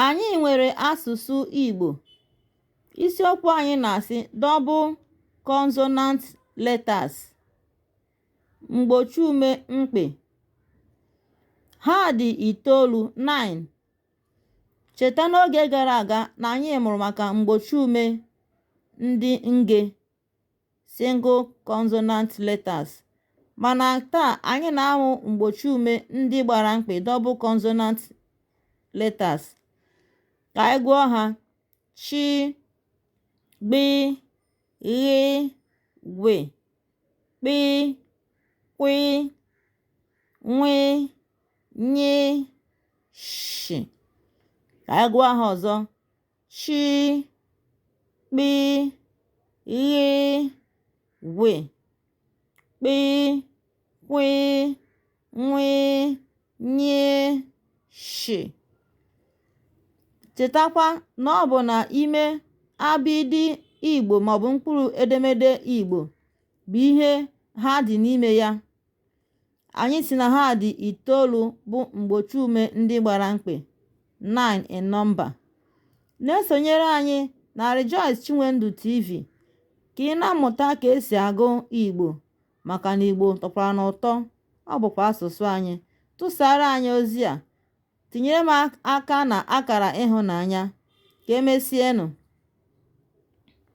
Anyị nwere asụsụ Igbo. Isiokwu anyị na-asị double consonant letters mgbochiume mkpị. Ha dị itoolu, nine. Cheta n'oge gara aga na anyị mụrụ maka mgbochiume ndị nge. single consonant letters, mana taa anyị na-amụ mgbochiume ndị gbara mkpị double consonant letters. Ka anyị gụọ ha: chi, gbi, ghi, gwi, kpi, kwi, nwi, nyi, shi. Ka anyị gụọ ha ọzọ: chị gbị ghị gwị kpị kwị nwị nyị shị chetakwa na ọ bụ na ime abịdịị Igbo maọbụ mkpụrụ edemede Igbo bụ ihe ha dị n'ime ya Anyị sị na ha dị itoolu bụ mgbochiume ndị gbara mkpị, 9 in number. Na-esonyere anyị na Rejoice Chinwendu TV ka ị na-amụta ka esi agụ Igbo maka na Igbo tọkwara n'ụtọ, ọ bụkwa asụsụ anyị. Tụsara anyị ozi a, tinyere m aka na akara ịhụnanya. Ka emesienụ.